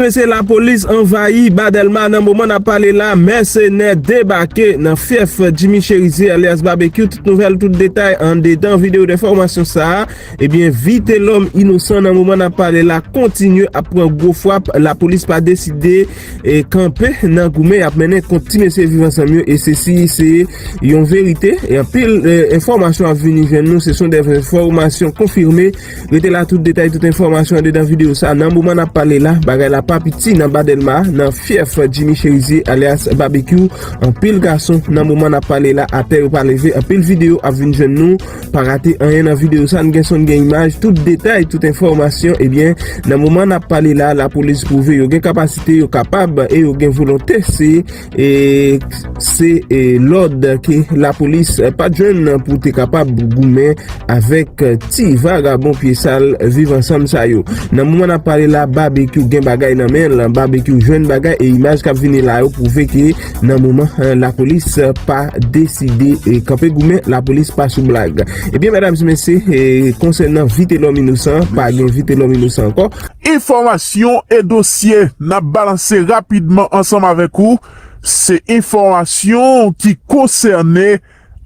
Mesye lapolis anvayi ba delma nan moman nap pale la mèsenè debake nan fyèf Jimmy Cherizier alyas Babekyou tout nouvèl tout detay andedan video de fòmasyon sa ebyen Vitelòm inosan nan moman nap pale la kontinye ap pran gwo fwap lapolis pa deside kanpe nan goumen yap mennen kont ti mesye viv ansanm yo e sesi se yon verite e anpil enfòmasyon ap vini jwenn nou se son de enfòmasyon konfime. Rete la tout detay tout enfòmasyon andedan videyo sa nan moman nap pale la bagay la pa piti nan ba dèlma nan fyèf Jimmy Cherizier alyas Babekyou anpil gason nan moman nap pale la atè yo pa leve anpil videyo ap vin jwenn nou pa rate anyen nan videyo sa n gen son n gen imaj tout detay tout enfòmasyon ebyen nan moman nap pale la lapolis pwouve yo gen kapasite yo kapab e yo gen volonte se e se lòd ke lapolis pa t jwenn pou te kapab goumen avèk ti vagabon pye sal viv ansanm sa yo. Nan moman n ap pale la, Babekyou gen bagay nan men l, Babekyou jwenn bagay e imaj k ap vini la yo pwouve ke nan moman lapolis pa deside kanpe goumen, lapolis pa sou blag. Ebyen medam e mesye, konsènan Vitelòm inosan, pa gen Vitelòm inosan ankò. Enfòmasyon e dosye n ap balanse rapidman ansanm avèk ou se enfòmasyon ki konsène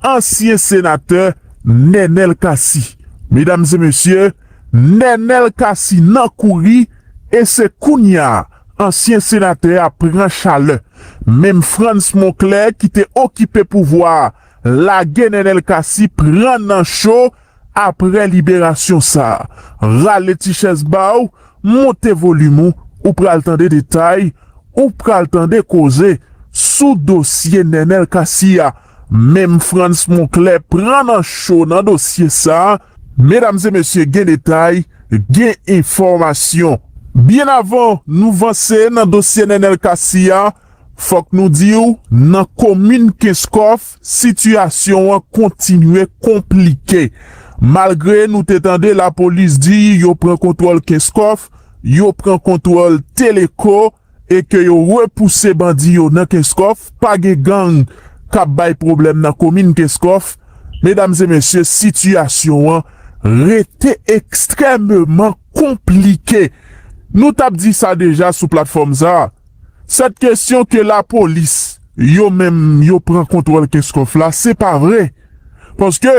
ansyen senatè Nènèl Cassy. Medam e mesye, Nènèl Cassy nan kouri e se kounya ansyen senatè a pran chalè. Menm Frantz Monclair ki te okipe pouvwa a lage Nènèl Cassy pran nan cho Aprè liberasyon sa a, rale ti chèz ba w, monte volim ou, ou pral tande detay, ou pral tande koze sou dosye Nènèl Cassy a. Menm Frantz Monclair pran nan cho nan dosye sa a. Medam e mesye gen detay, gen enfòmasyon. Byen avan nou vanse nan dosye Nènèl Cassy a, Fòk nou di w, nan komin Kenskòf, sitiyasyon an kontinye konplike. Malgre nou te tande lapolis di yo pran kontwòl Kenskòf, yo pran kontwòl Teleko e ke yo repouse bandi yo nan Kenskòf, pa gen gang k ap bay pwoblèm nan komin Kenskòf. Medam e mesye, sitiyasyon an rete ekstrèmeman konplike. Nou t ap di sa deja sou platfòm sa a. Sèt kesyon ke lapolis yo menm yo pran kontwòl Kenskòf la se pa vre paske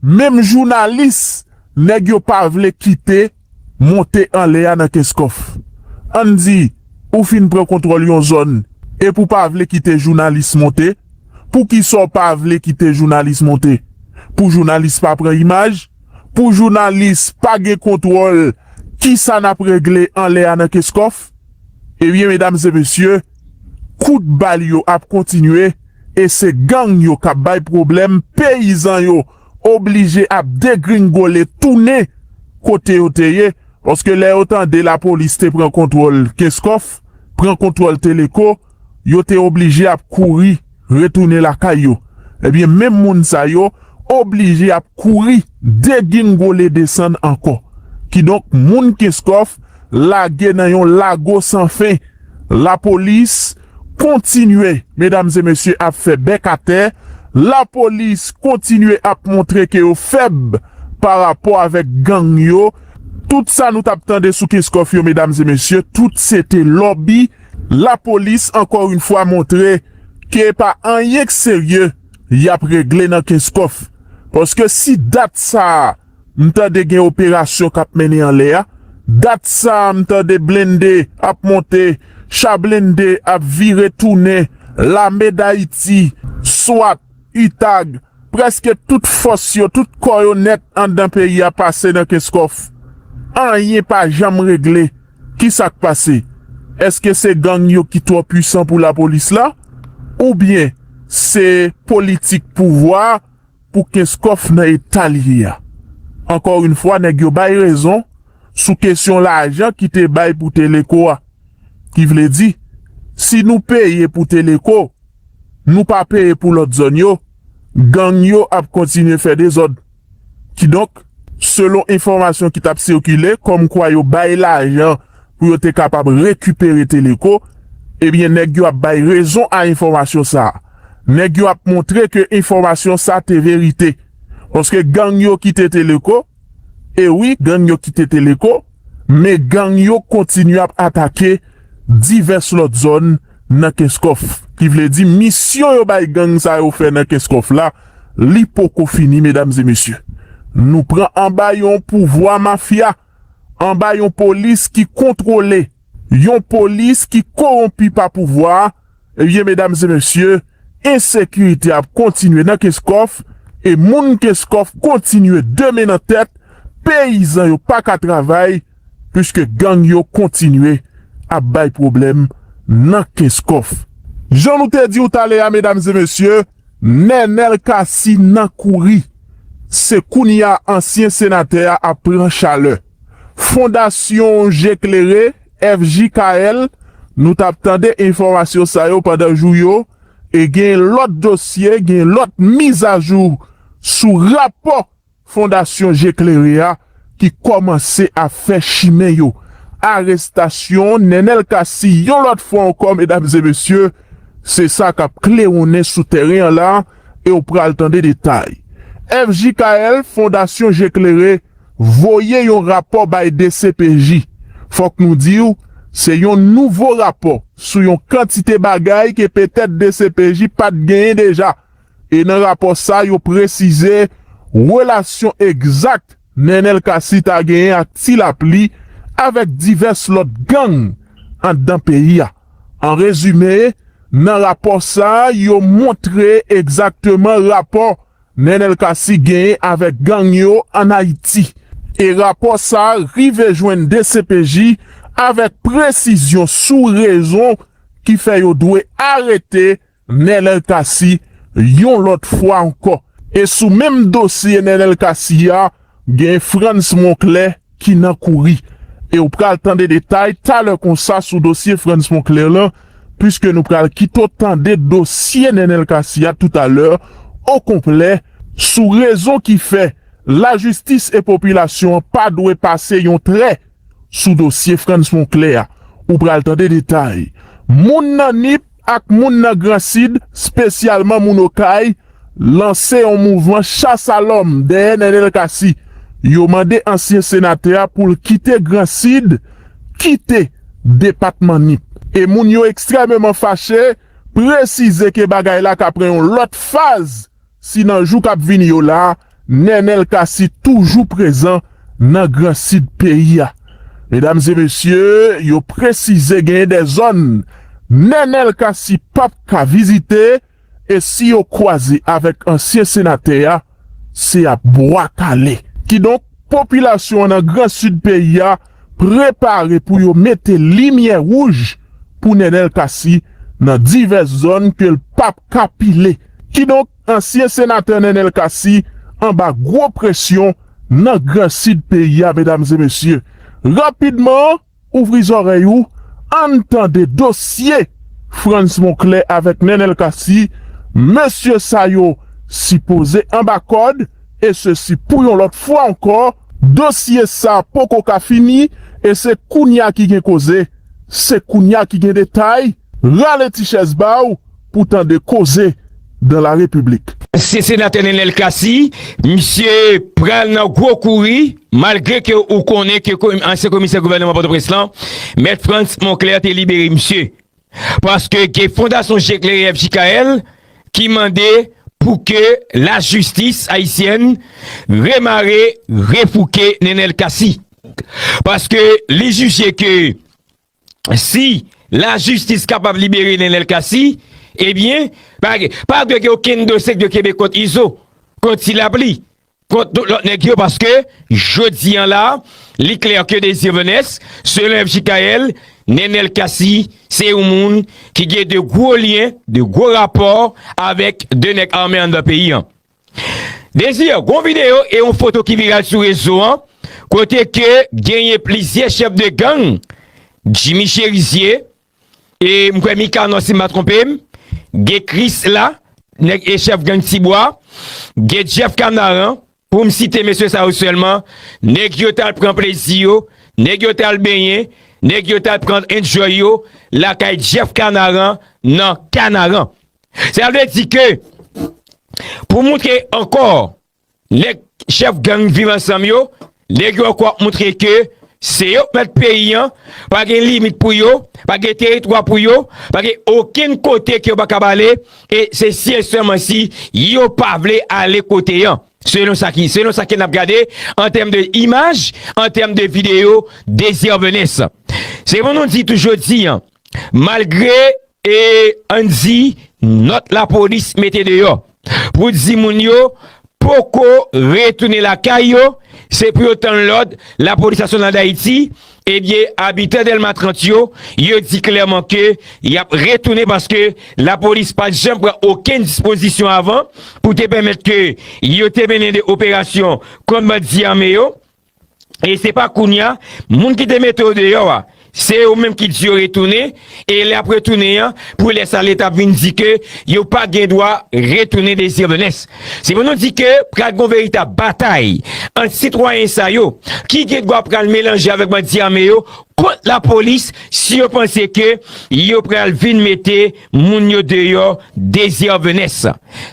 menm jounalis nèg yo pa vle kite monte anlè a nan Kenskòf. Ann di ou fin pran kontwòl yon zòn epi ou pa vle kite jounalis monte, poukisa ou pa vle kite jounalis monte? Pou jounalis pa pran imaj? Pou jounalis pa gen kontwòl kisa n ap regle anlè a nan Kenskòf? Ebyen medam e mesye, kout bal yo ap kontinye e se gang yo kap bay pwoblèm, peyizan yo oblije ap degringole tounen kote yo te ye, paske lè yo tande lapolis te pran kontwòl kenskof, pran kontwòl teleko, yo te oblije ap kouri retounen lakay yo, ebyen menm moun sa yo oblije ap kouri degingole desann ankò. Kidonk moun Kenskòf lage nan yon lago san fen. Lapolis kontinye medam e mesye ap fè bèk atè, lapolis kontinye ap montre ke yo fèb parapò avèk gang yo. Tout sa nou t ap tande sou Kenskòf yo medam e mesye tout se te lòbi. Lapolis ankò yn fwa montre ke e pa anyen k serye yap regle nan Kenskòf, paske si dat sa a m tande gen operasyon kap mennen anlè a, dat sa a m tande blende ap monte, cha blende ap vire tounen, lame dayiti, swat, utag, prèske tout fòs yo, tout kò yo nèt anndan peyi a pase nan Kenskòf, anyen pa janm regle. Kisa k pase? Eske se gang yo ki twò pwisan pou lapolis la? Oubyen se politik pouvwa pou Kenskòf nan eta l ye a? Ankò yn fwa nèg yo bay rezon sou kesyon lajan ki te bay pou Teleco a. Ki vle di, si nou peye pou Teleco, nou pa peye pou lòt zòn yo, gang yo ap kontinye fè dezòd. Kidonk, selon enfòmasyon ki t ap sikile kòmkwa yo bay lajan pou yo te kapab rekipere Teleco, ebyen nèg yo ap bay rezon a enfòmasyon sa a. Nèg yo ap montre ke enfòmasyon sa te verite. Paske gang yo kite Teleco, e wi gang yo kite Teleco, Men gang yo kontinye ap atake divès lòt zòn nan Kenskòf. Ki vle di misyon yo bay gang sa yo fè nan Kenskòf la, li poko fini medam e mesye. Nou pran anba yon pouvwa mafya, anba yon polis ki kontwole, yon polis ki kowonpi pa pouvwa a, Ebyen medam e mesye, ensekirite ap kontinye nan Kenskòf e moun Kenskòf kontinye de men nan tèt, peyizan yo pa ka travay puiske gang yo kontinye ap bay pwoblèm nan Kenskòf. Jan nou te di w talè a medam e mesye, Nenel Cassy nan kouri, se kounya ansyen senatè a ap pran chalè. Fondasyon Je Klere, FJKL, nou tap tande enfòmasyon sa yo pandan jou yo, e gen lòt dosye, gen lòt mizajou sou rapò. Fondasyon Je Klere a ki kòmanse ap fè chimen yo. Arestasyon Nenel Cassy yon lòt fwa ankò medam e mesye, se sa k ap klewonnen sou tèren an la e w pral tande detay. FJKL, Fondasyon Je Klere, voye yon rapò bay dcpj. Fòk nou di w, se yon nouvo rapò sou yon kantite bagay ke petèt dcpj pa t genyen deja. E nan rapò sa yo presize relasyon egzak Nenel Cassy ta genyen ak Ti Lapli avèk divès lòt gang anndan peyi a. An rezime, nan rapò sa yo montre egzakteman rapò Nenel Cassy genyen avèk gang yo an Ayiti. E rapò sa rive jwenn dcpj avèk presizyon sou rezon ki fè yo dwe arete Nenel Cassy yon lòt fwa ankò. E sou menm dosye Nenel Cassy a gen Frantz Monclair ki nan kouri. E ou pral tande detay talè konsa sou dosye Frantz Monclair lan puiske nou pral kite w tande dosye Nenel Cassy a toutalè o konplè sou rezon ki fè lajistis e popilasyon an pa dwe pase yon trè sou dosye Frantz Monclair a. Ou pral tande detay. Moun nan Nip. ak moun nan Gran Sid, spesyalman moun Okay, lanse yon mouvman chas a lòm dèyè Nenel Cassy. Yo mande ansyen senatè a pou l kite Gran Sid, kite depatman Nip. E moun yo ekstrèmeman fache, presize ke bagay la ka pran yon lòt faz. Si nan jou kap vini yo la, Nenel Cassy toujou prezan nan gran sid peyi a. Medam e mesye yo presize genyen de zòn Nenel Cassy pap ka vizite e si yo kwaze avèk ansyen senatè a, se ap bwa kale. Kidonk popilasyon an nan gran sid peyi a prepare pou yo mete limyè wouj pou Nenel Cassy nan divès zòn ke l pap ka pile. Kidonk ansyen senatè Nenel Cassy anba gwo presyon nan gran sid peyi a medam e mesye. Rapidman ouvri zòrèy ou ann tande dosye Frantz Monclair avèk Nenel Cassy, mesye sa yo sipoze anba kòd, E sesi pou yon lòt fwa ankò, dosye sa poko ka fini e se kounya ki gen koze, se kounya ki gen detay, rale ti chèz ba w pou tande koze dans la République. Se senatè Nenel Cassy, misye pral nan gwo kouri, malgre ke ou konnen ke ansyen komisè gouvèneman Pòtoprens lan, Mèt Frantz Monclair te libere misye. Paske gen Fondasyon Je Klere FJKL ki mande pou ke lajistis ayisyèn remare, refouke Nenel Cassy. Paske li jije ke si lajistis kapab libere Nenel Cassy, ebyen pa dwe gen okenn dosye ki dwe kenbe kont Izo, kont Ti Lapli. kont tout lòt nèg yo paske jodi an la li klè ke Désir Venès selon FJKL, Nenel Cassy se yon moun ki gen de gwo lyen, de gwo rapò avèk de nèg ame anndan peyi an. Désir, gon videyo e yon foto ki viral sou rezo an kote ke genyen plizyè chèf de gang, Jimmy Cherizier, E m kwè Mikanò si m pa twonpe m, gen Kris la, nèg e chèf gang Ti Bwa, gen Jeff Kanaran, pou m site mesye sa yo sèlman, nèg yo t al pran plezi yo, nèg yo t al benyen, nèg yo t al pran enjoy yo lakay Jeff Kanaran nan Kanaran. Sa vle di ke pou moutre ankò Nèg chèf gang viv ansanm yo lè gen yon kou ap montre ke se yo k mèt peyi an, pa gen limit pou yo, pa gen teritwa pou yo, pa gen okenn kote ke yo pa kab ale e se si e sèlman si yo pa vle ale kote an. Selon sa ki, selon sa ke n ap gade an tèm de imaj, an tèm de videyo Desir Venesse. Se pou nou di tou jodi an, malgre E ann di nòt lapolis mete deyò pou di moun yo poko retounen lakay yo, se pou yo tann lòd lapolis nasyonal Dayiti, ebyen abitan Dèlma 30 yo, yo di klèman ke y ap retounen paske lapolis pa t janm pran okenn dispozisyon avan pou te pèmèt ke yo te mennen de operasyon kont bandi ame yo. e se pa kounya moun ki te mete yo deyò a se yo menm ki di yo retounen e lè ap retounen an pou lè sa leta ap vin di ke yo pa gen dwa retounen dezyèblnes se pou nou di ke pral gon veritab batay ant sitwayen sa yo ki gen dwa pral melanje avèk bandi ame yo kont la polis si yo panse ke yo pral vin mete moun yo deyò dezyèblnes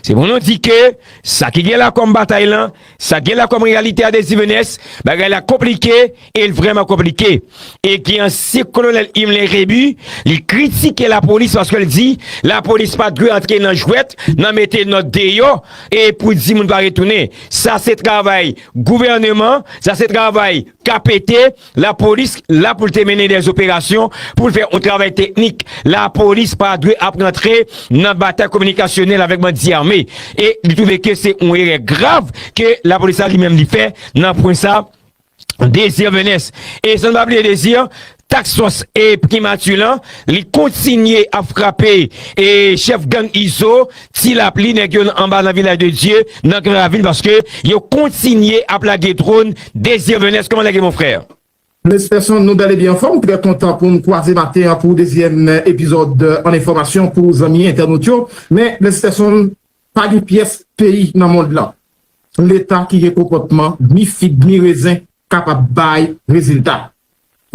se pou nou di ke sa ki gen la kòm batay lan. Sa gen la kòm reyalite a Desduvenes, bagay la konplike e l vrèman konplike. E gen ansyen kolonèl Himmler Rébu, li kritike lapolis paske l di lapolis pa dwe antre nan jwèt, nan mete nòt deyò e pou di moun pa retounen. Sa se travay gouvèneman, sa se travay KPT, Lapolis la pou l te mennen dè operasyon, pou l fè yon travay teknik. Lapolis pa dwe ap rantre nan batay kominikasyonèl avèk bandi ame. E li twouve ke se yon erè grav ke lapolis la li menm li fè nan pwen sa a. Désir Venès. E san n pa bliye Désir, Task Force e Primature lan, li kontinye ap frape chèf gang Izo. Ti lapli nèg yo anba nan vilaj de Dye nan gran ravin paske yo kontinye ap lage dron Désir Benes kòman nèg yo mon frè? Mes personnes nou bel e byen anfom trè kontan poum kwaze maten an pou dezyèm epizòd an enfòmasyon pou zanmi entènot yo men mes personnes pa gen pyès peyi nan mond lan leta ki gen konpòtman ni fig ni rezen kapab bay rezilta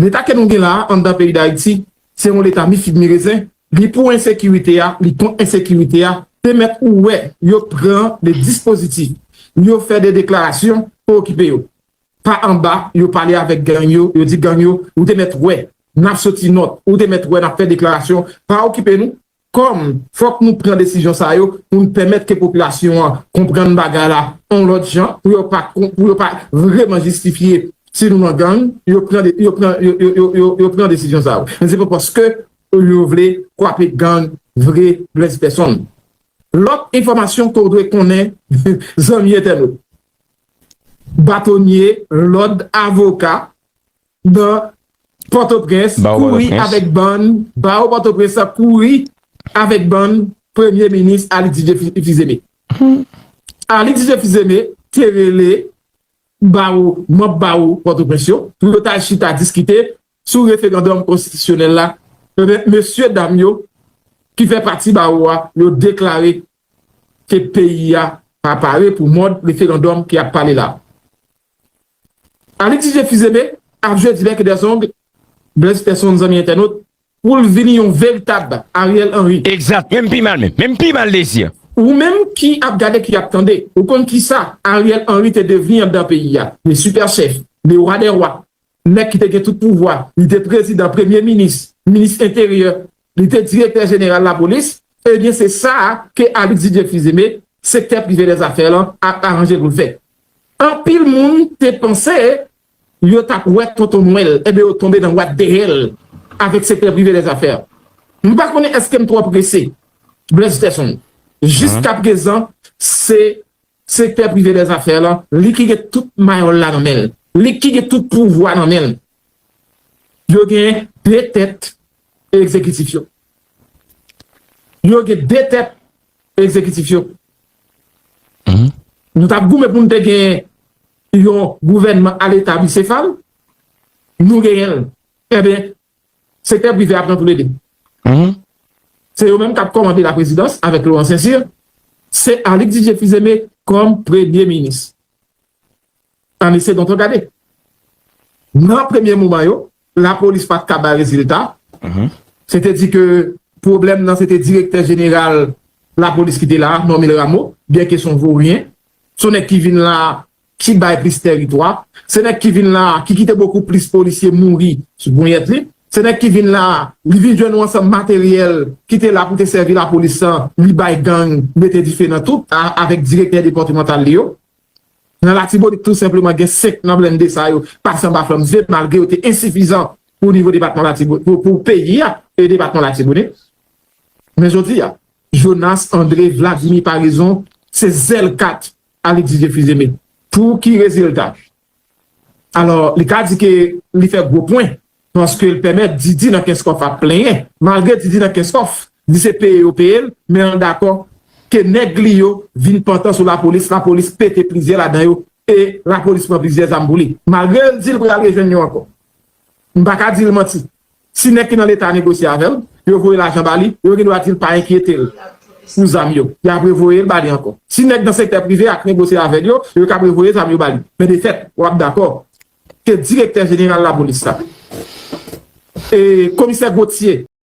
Leta ke nou gen la a anndan peyi Dayiti, se yon leta mi fig mi rezen, li pou ensekirite a, li kont ensekirite a, te mèt ou wè yo pran de dispozitif, yo fè de deklarasyon pou okipe yo. Pa anba, yo pale avèk gang yo, yo di gang yo, ou te mèt wè, n ap soti nòt, ou te mèt wè n ap fè deklarasyon, pa okipe nou, Kòm, fòk nou pran desizyon sa yo pou n pèmèt ke popilasyon an konprann bagay la on lòt jan, pou yo pa pou yo pa vreman jistifye si nou nan gang, yo pran de yo pran yo yo yo yo pran desizyon sa yo. Men se pa paske yo vle kwape gang vre Blaise Person. Lòt enfòmasyon ke w dwe konnen zanmi entènot, batonye, lòd, avoka, Ban Pòtoprens kouri avèk bann Bawo Pòtoprens la kouri avèk bann Premye Minis Aly Didier Fils-Aimé. Aly Didier Fils-Aimé te rele bawo manb bawo Pòtoprens yo pou yo ta chita diskite sou referandòm konstitisyonèl la, enben mesye dam yo ki fè pati bawo a yo deklare ke peyi a pa pare pou mòd referandòm ki ap pale la. Alix DJ Fizeme ap jwe Divers que des ongles Blaise Personne zanmi entènot pou l vini yon veritab Ariel Henry. Exact menm pi mal menm menm pi mal Désir. Ou menm ki ap gade ki ap tande ou konn kisa Ariel Henry te devni andan peyi a le super chef le roi des rois Nèg ki te gen tout pouvwa, li te prezidan, premye minis, minis enteryè, li te direktè jeneral lapolis, ebyen se sa a ke Alix Didier Fils-Aimé, sektè prive dè zafè lan, ap aranje pou l fè. Anpil moun te panse yo t ap wè Tonton Nwèl, ebyen yo tonbe nan wad dèyè l avèk sektè prive dè zafè. M pa konnen èske m twò prese, Blaise Peterson. Jiskaprezan se Sektè prive dè zafè la, li ki gen tout mayòl la nan men l. Li ki gen tout pouvwa nan men l. Yo gen de tèt egzekitif yo. Yo gen de tèt egzekitif yo. Nou t ap goumen pou nou te gen yon gouvènman aleta bisefal, nou genyen l. Enben, Sektè prive a pran pou lede. Se yo menm k ap kòmande laprezidans avèk Laurent Saint-Cyr. Se Alix Didier Fils-Aimé kòm premye minis. Ann ese tonton gade. Nan premye moman yo, lapolis pa t ka bay rezilta. Se te di ke pwoblèm nan se te direktè jeneral lapolis ki te la a, Normil Rameau, byenke s on voryen, s on nèg ki vin la a ki bay plis tèritwa, se nèg ki vin la a ki kite bokou plis polisye mouri sou ponyèt li, se nèg ki vin la a li vin jwenn yon ansanm materyèl ki te la pou te sèvi lapolis an li bay gang mete dife nan tout a avèk direktè depatimantal li yo. Nan Latibonit tou senpleman gen 5 nan blende sa yo pase anba flanm zye malgre yo te ensifizan pou nivo depatman Latibo pou pou peyi a e depatman Latibonit. Men jodi a Jonas Andre Vladimir Paraison se zèl kat Alexis Jefizeme pou ki rezilta? Alò li ka di ke li fè gwo pwen paske l pèmèt Didi nan Kenskòf ap plenyen malgre Didi nan Kenskòf di se peye yo peye l men l dakò ke nèg li yo vin pantan sou lapolis, lapolis pete plizyè ladan yo e lapolis pran plizyè zam pou li malgre l di l pral rejwenn yo ankò. M pa ka di l manti Si nèg ki nan leta negosye avè l, yo voye lajan ba li, yo gen dwa di l pa enkyete l pou zam yo, y ap revoye l ba li ankò. Si nèg nan sektè prive a k negosye avè l yo, yo kab revoye zam yo ba li. Men de fèt, w ap dakò ke direktè jeneral lapolis la, komisè Gauthier,